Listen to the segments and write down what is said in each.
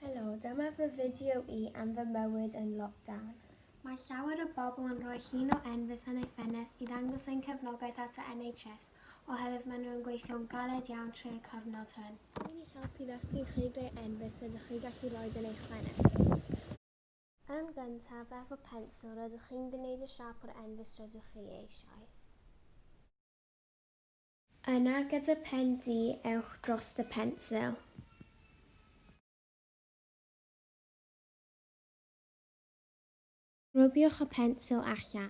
Helo, dyma fy fideo i am fy mywyd yn lockdown. Mae llawer o bobl yn rhoi llun o Enfys yn ei ffenest i ddangos ein cefnogaeth at y NHS oherwydd maen nhw yn gweithio'n galed iawn trwy'r cyfnod hwn. Gallwn ni helpu ddysgu chi ble Enfys rydych chi gallu rhoid yn eich ffenest. Yn gyntaf, efo pensil, rydych chi'n gwneud y siâp o'r Enfys rydych chi eisiau. Yna gyda phen du ewch drost y pensil. Rwbiwch y pensil allan.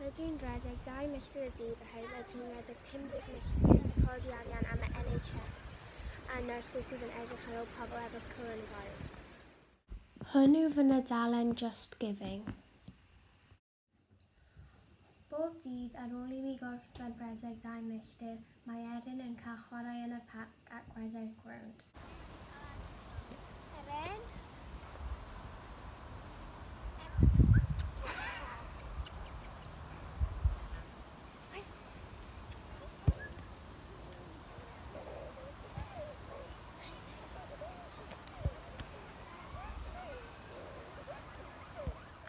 Rydw i'n rhedeg dau milltir y dydd oherwydd rydw i'n rhedeg 50 milltir i godi arian am y NHS a nyrsys sydd yn edrych ar ôl pobl efo coronavirus. Hwn yw fy nydalen Just Giving. Bob dydd ar ôl i mi gorffen rhedeg dau milltir, Mae Erin yn cael chwarae yn y parc ac wedau'r gwrand. Erin.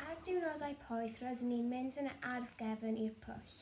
Ar diwrnodau poeth rydyn ni'n mynd yn y ardd gefn i'r pwll.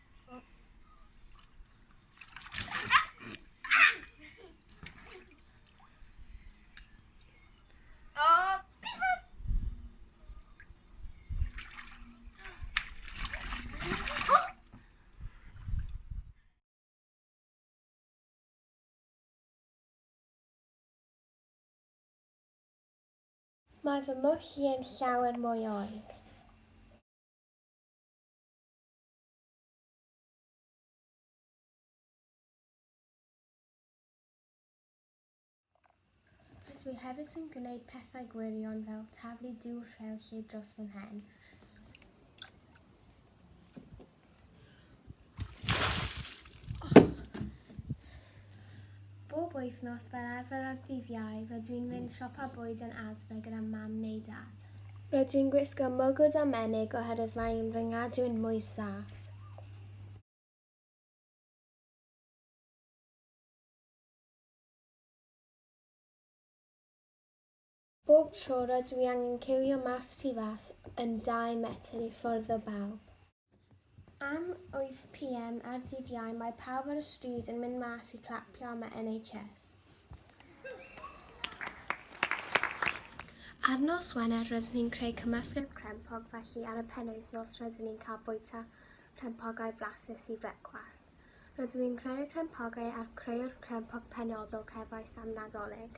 Mae fy mwch i yn llawer mwy oer. Dwi hefyd yn gwneud pethau gwirion fel taflu dŵr rhew lle dros fy mhen. Bob wythnos fel arfer ar ddydd Iau, rydw i'n mynd siopa bwyd yn Asda gyda mam neu dad. Rydw i'n gwisgo mwgwd a menig oherwydd mae yn fy ngadw i'n mwy saff. Bob tro rydw i angen ciwio mas tu fas yn dau metr i ffwrdd o bawb. Am 8 pm ar ddydd Iau mae pawb ar y stryd yn mynd mas i clapio am y NHS. Ar nos Wener rydyn ni'n creu cymysgedd crempog felly ar y penwythnos rydyn ni'n cael bwyta crempogau blasus i frecwast. Rydw i'n creu y crempogau a'r creu'r crempog penodol cefais am Nadolig.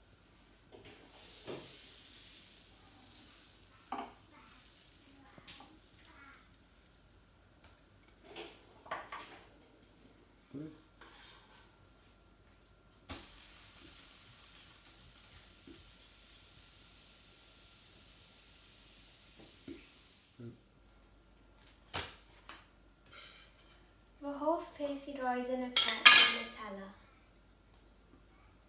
Fy hoff peth i roed yn y pen yw Nutella.